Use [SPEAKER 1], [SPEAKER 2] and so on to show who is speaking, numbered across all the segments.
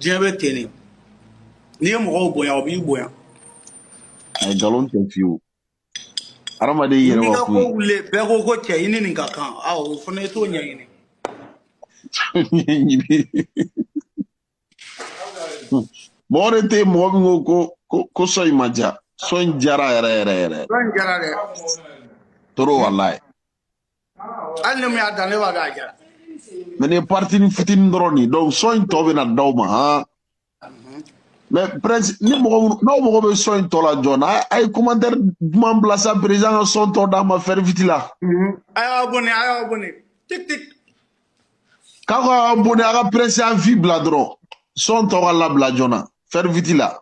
[SPEAKER 1] diɲɛ bɛ ten de n'i ye mɔgɔw bonya o b'i bonya
[SPEAKER 2] a ye nkalon tɛ fewu hadamaden y'i yɛrɛ n'i ka ko wakun wuli bɛɛ
[SPEAKER 1] ko
[SPEAKER 2] ko
[SPEAKER 1] cɛ
[SPEAKER 2] i
[SPEAKER 1] ni nin ka kan a o fana i t'o ɲɛɲini
[SPEAKER 2] mɔgɔ de tɛ yen mɔgɔ min ko ko ko ko sɔn in ma ja sɔn in jara yɛrɛ yɛrɛ yɛrɛ sɔn in jara dɛ trop walayi
[SPEAKER 1] hali ni min y'a dan ne b'a dɔn a jara mais nin
[SPEAKER 2] partini fitini dɔrɔn de donc sɔn in tɔ bɛ na d'aw ma han mais prince ni mɔgɔ minnu n'aw mago bɛ sɔn in tɔ la joona a ye commentaire duman bila sa président ka sɔn tɔ d'a ma faire vite là a
[SPEAKER 1] y'a abonné
[SPEAKER 2] a y'a abonné tik tik k'a ka abonné a ka prési à vie bila dɔrɔn sɔn tɔ ka labila joona faire vite là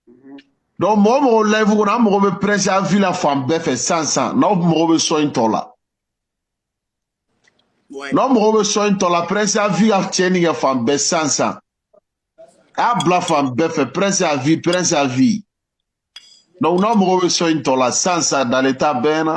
[SPEAKER 2] mhm. donc mɔgɔ o mɔgɔ live kɔnɔ an mago bɛ prési à vie la fan bɛɛ fɛ san san n'aw mago bɛ sɔn in tɔ la n'aw mago bɛ sɔn in tɔ la prési à vie ka tiɲɛni kɛ fan bɛɛ san san a y'a bila fan bɛɛ fɛ prési à vie prési à vie donc n'aw mago bɛ sɔn in tɔ la san san dalen t'a bɛɛ na.